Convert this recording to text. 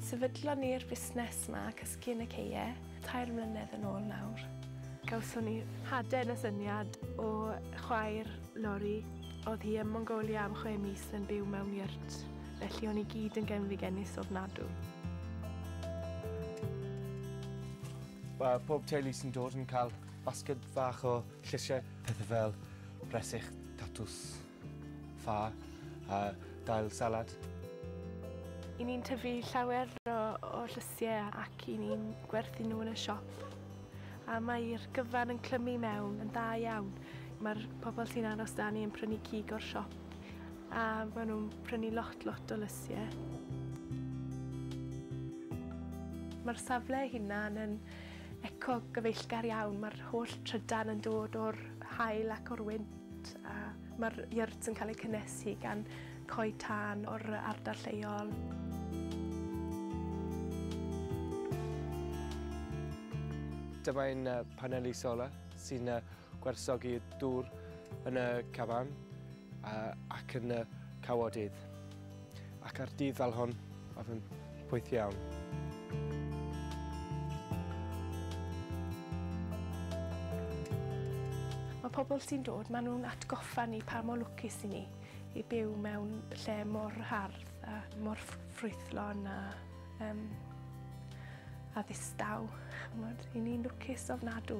Sefydlon ni'r busnes 'ma, Cysgu yn y Ceue, tair mlynedd yn ôl nawr. Gawson ni hade yn y syniad o chwaer Lori. Oedd hi ym Mongolia am chwe mis yn byw mewn yurt, felly o'n i gyd yn genfigennus ofnadw. Mae pob teulu sy'n dod yn cael basged fach o llysiau, pethau fel bresych, tatws, ffa a dail salad. I ni'n tyfu llawer o o llysiau ac i ni'n gwerthu nhw yn y siop. A mae'r gyfan yn clymu mewn yn dda iawn. Mae'r pobl sy'n aros 'da ni yn prynu cig o'r siop. A maen nhw'n prynu lot lot o lysie. Mae'r safle ei hunan yn eco gyfeillgar iawn. Mae'r holl trydan yn dod o'r hael ac o'r wynt a mae'r yurt yn cael ei cynnesu gan coed tân o'r ardal lleol. Dyma ein paneli solar sy'n gwerthogi dŵr yn y caban. ac yn y cawodydd, ac ar dydd fel hon, oedd yn pwyth iawn. Mae pobl sy'n dod, maen nhw'n atgoffa ni pa mor lwcus i ni i byw mewn lle mor hardd a mor ffrwythlon a Um, a ddistaw, chymod, i ni'n lwcus ofnadw.